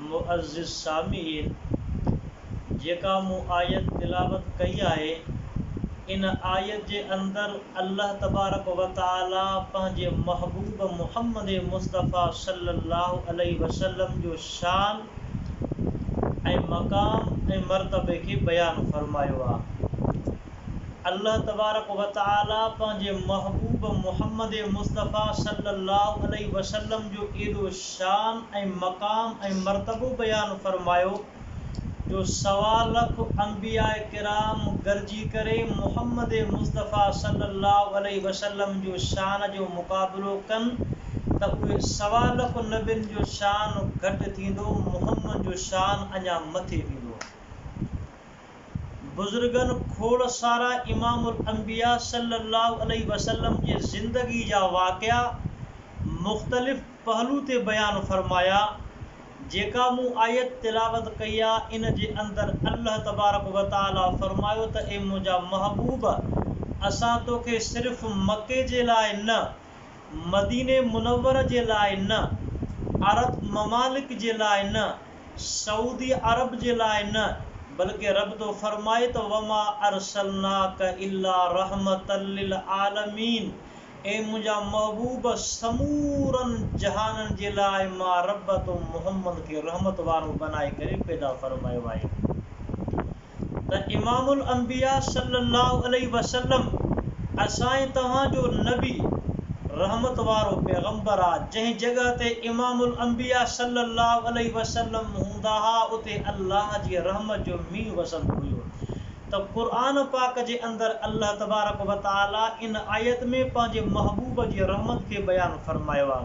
معزز سامعين! جيڪا مون آيت تلاوت ڪئي آهي، ان آيت جي اندر الله تبارڪ و تعاليٰ پنهنجي محبوب محمد مصطفيٰ صلّي الله عليه وسلّم جو شان ۽ مقام ۽ مرتبي کي بيان فرمايو آهي. الله تبارڪ و تعاليٰ پنهنجي محبوب محمد مصطفيٰ صلّي الله عليه وسلّم جو ايڏو شان ۽ مقام ۽ مرتبو بيان فرمايو جو سوا لک انبياء ڪرام گڏجي ڪري محمد مصطفيٰ صلّي الله عليه وسلّم جو شان جو مقابلو ڪن ته اهي سوا لک نبين جو شان گهٽ ٿيندو محمد جو شان اڃا مٿي ويندو. بزرگن کوڙ سارا امام الانبياء صلّي اللّٰه عليه وسلّم جي زندگي جا واقعا مختلف پهلو تي بيان فرمايا، جيڪا مون آيت تلاوت ڪئي آ، ان جي اندر الله تبارڪ و تعالٰي فرمايو ته اي منهنجا محبوب! اسان توکي صرف مڪي جي لاء نه، مديني منورّ جي لاء نه، عرب ممالڪ جي لاء نه، سعودي عرب جي لاء نه، بلڪه رب ٿو فرمائي ته وما ارسلناک الا رحمة للعالمين اي منهنجا محبوب سمورن جهانن جي لاء مان رب تو محمد کي رحمت وارو بنائي ڪري پيدا فرمايو آهي. ته امام الانبياء صلّي اللّٰه عليه وسلّم اسانء توهان جو نبي، رحمت وارو پيغمبر، آ، جنهن جڳهه تي امام الانبياء صلّي اللّٰه عليه وسلّم هوندا ها اتي الله جي رحمت جو مينهن وسندو هيو ته قرآن پاڪ جي اندر الله تبارڪ وتعالٰي ان آيت ۾ پنهنجي محبوب جي رحمت کي بيان فرمايو آ.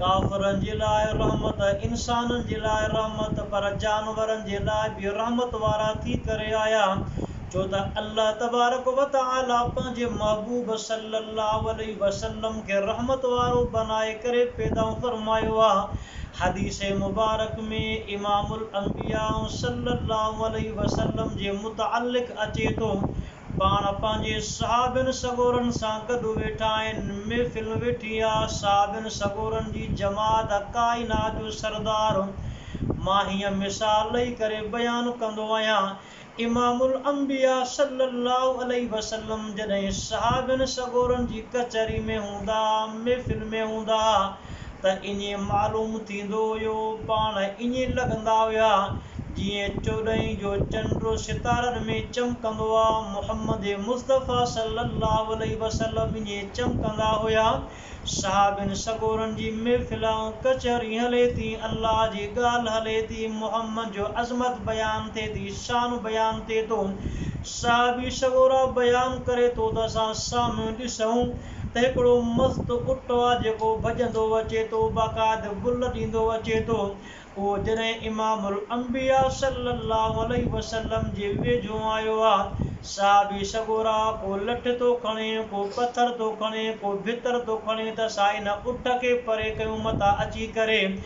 ڪافرن جي لاء رحمت، انسانن جي لاء رحمت، پر جانورن جي لاء به رحمت وارا ٿي ڪري آيا، ڇو ته الله تبارڪ و تعالي پنهنجي محبوب صلّي اللّٰه عليه وسلّم کي رحمت وارو بنائي ڪري پيدا فرمايو آهي، حديث مبارڪ ۾ امام الانبياء صلّي اللّٰه عليه وسلّم جي متعلق اچي ٿو، پاڻ پنهنجي صحابين سڳورن سان گڏ ويٺا آهن. محفل ويٺي آ. صحابين سڳورن جي جماعت ڪائنات جو سردار مان هيئن مثال ڏئي ڪري بيان ڪندو آهيان، امام الانبياء صلّي الله عليه وسلّم جڏهن صحابين سڳورن جي ڪچهري ۾ هوندا ها، محفل ۾ هوندا ها، ته ائين معلوم ٿيندو هيو، پاڻ ائين لڳندا هيا، جيئن چوڏهين جو چنڊ ستارن ۾ چمڪندو آ، محمد مصطفيٰ صلّي اللّٰه عليه وسلّم ائين چمڪندا هيا، صحابين سڳورن جي محفل ۽ ڪچهري هلي ٿي، الله جي ڳالهه هلي ٿي، محمد جو عظمت بيان ٿئي ٿي، شان بيان ٿئي ٿو، صحابي سڳورا بيان ڪري ٿو ته اسان سامهون ڏسون. ته هڪڙو مست اٽ آ جيڪو ڀڄندو اچي ٿو باقاعد بل ڏيندو اچي ٿو اهو جڏهن امام الانبياء صلي الله عليه وسلم جي ويجهو آيو آ صحابي سڳورا ڪو لٺ ٿو کڻي ڪو پٿر ٿو کڻي ڪو ڀتر ٿو کڻي ته سائين اٺ کي پري ڪيون متان اچي ڪري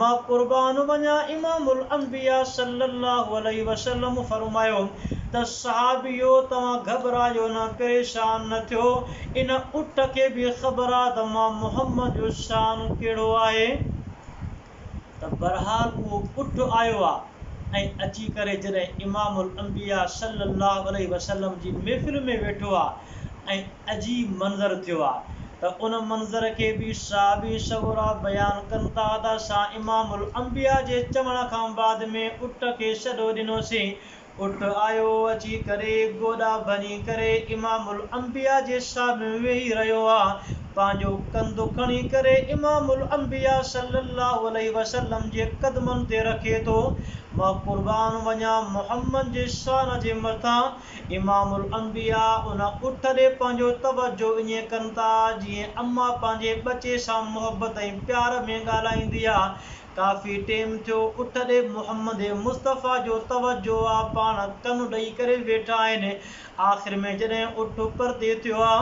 مان قربان وڃان امام الانبياء صلّي الله عليه وسلّم فرمايو ته صحابيو توهان گهٻرايو نه پريشان نه ٿيو ان اٺ کي به خبر آهي ته مان محمّد جو شان ڪهڙو آهي ته برحال اهو اٺ آيو آهي ۽ اچي ڪري جڏهن امام الانبياء صلّي الله عليه وسلّم جي محفل ۾ ويٺو آهي ۽ عجيب منظر ٿيو آ ته ان منظر کي به صحابي سڳورا بيان ڪن ٿا ته اسان امام الانبياء جي چوڻ کان بعد ۾ اٺ کي سڏو ڏنوسين اٺ آيو اچي ڪري گوڏا ڀڃي ڪري امام الانبياء جي سامهون ويهي رهيو آ پنهنجو ڪنڌ کڻي ڪري امام الانبياء صلّي اللّٰه عليه وسلّم جي قدمن تي رکي ٿو مان قربان وڃان محمّد جي شان جي مٿان امام الانبياء ان اٺ ڏي پنهنجو توجه ائين ڪن ٿا جيئن اما پنهنجي ٻچي سان محبت ۽ پيار ۾ ڳالهائيندي آ. ڪافي ٽيم ٿيو اٺ ڏي محمد مصطفيٰ جو توجه آ پاڻ ڪن ڏئي ڪري ويٺا آهن آخر ۾ جڏهن اٺ پرتي ٿيو آ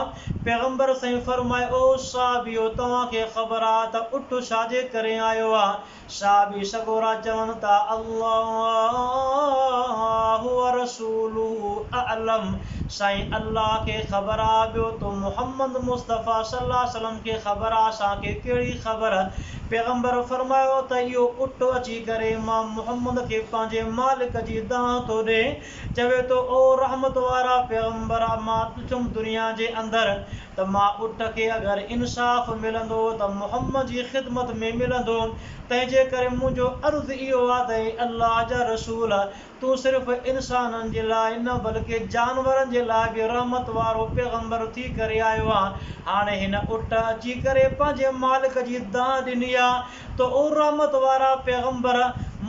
پيغمبر سائين فرمايو او صحابيو توهان کي خبر آ ته اٺ ڇا جي ڪري آيو آ؟ صحابي سڳورا چون ٿا الله ورسوله اعلم سائين الله کي خبر آ ٻيو تو محمد مصطفيٰ صلي الله عليه وسلم کي خبر آ اسان کي ڪهڙي خبر پيغمبر فرمايو ته اهو اٺ اچي ڪري امام محمد کي پنهنجي مالڪ جي دانهن ٿو ڏي چوي ٿو او رحمت وارا پيغمبر مان پڇم دنيا جي اندر ته مان اٽ کي اگر انصاف ملندو ته محمد جي خدمت ۾ ملندو، تنهنجي ڪري منهنجو عرض اهو آهي ته اي الله جا رسول! تون صرف انسانن جي لاء نه بلڪه جانورن جي لاء به رحمت وارو پيغمبر ٿي ڪري آيو آهين. هاڻي هن اٽ اچي ڪري پنهنجي مالڪ جي دانهن ڏني آهي. ته او رحمت وارا پيغمبر!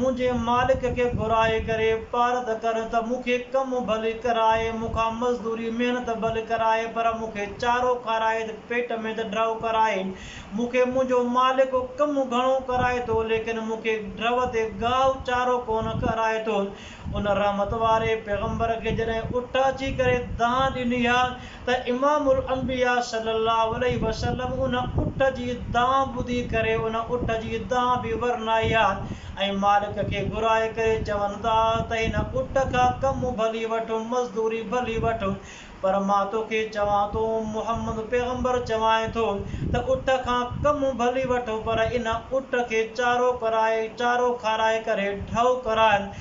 منهنجي مالڪ کي گهرائي ڪري پارت ڪر ته مون کي ڪم ڀلي ڪرائي، مون کان مزدوري، محنت، ڀلي ڪرائي پر مون کي چارو کارائي ته پيٽ ۾ ته ڊؤ ڪرائي. مون کي منهنجو مالڪ ڪم گهڻو ڪرائي ٿو ليڪن مون کي ڊؤ تي گاهه چارو ڪونه کارائي ٿو. ان رحمت واري پيغمبر کي جڏهن اٺ اچي ڪري دانهن ڏني ها، ته امام الانبياء صلّي اللّٰه عليه وسلّم ان اٺ جي دانهن ٻڌي ڪري ان اٺ جي دانهن به ورنائي ها ۽ مالڪ کي گهرائي ڪري چون ٿا ته هن اٺ کان ڪم ڀلي وٺ، مزدوري ڀلي وٺ پر مان توکي چوان ٿو، محمّد پيغمبر چوانء ٿو ته اٺ کان ڪم ڀلي وٺ پر ان اٺ کي چارو ڪرائي، چارو کارائي ڪري ڍؤ ڪراء.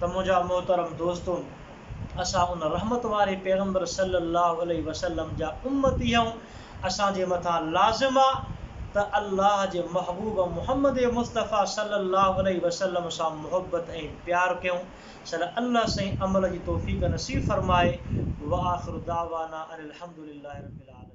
ته منهنجا محترم دوستو! اسان ان رحمت واري پيغمبر صلّي اللّٰه عليه وسلّم جا امّتي آهيون، اسان جي مٿان لازم آ ته الله جي محبوب محمّد مصطفٰي صلّي اللّٰه عليه وسلّم سان محبّت ۽ پيار ڪيون، صلّي الله سائين عمل جي توفيق نصيب فرمائي، واخر دعوانا ان الحمد لله رب العالمين.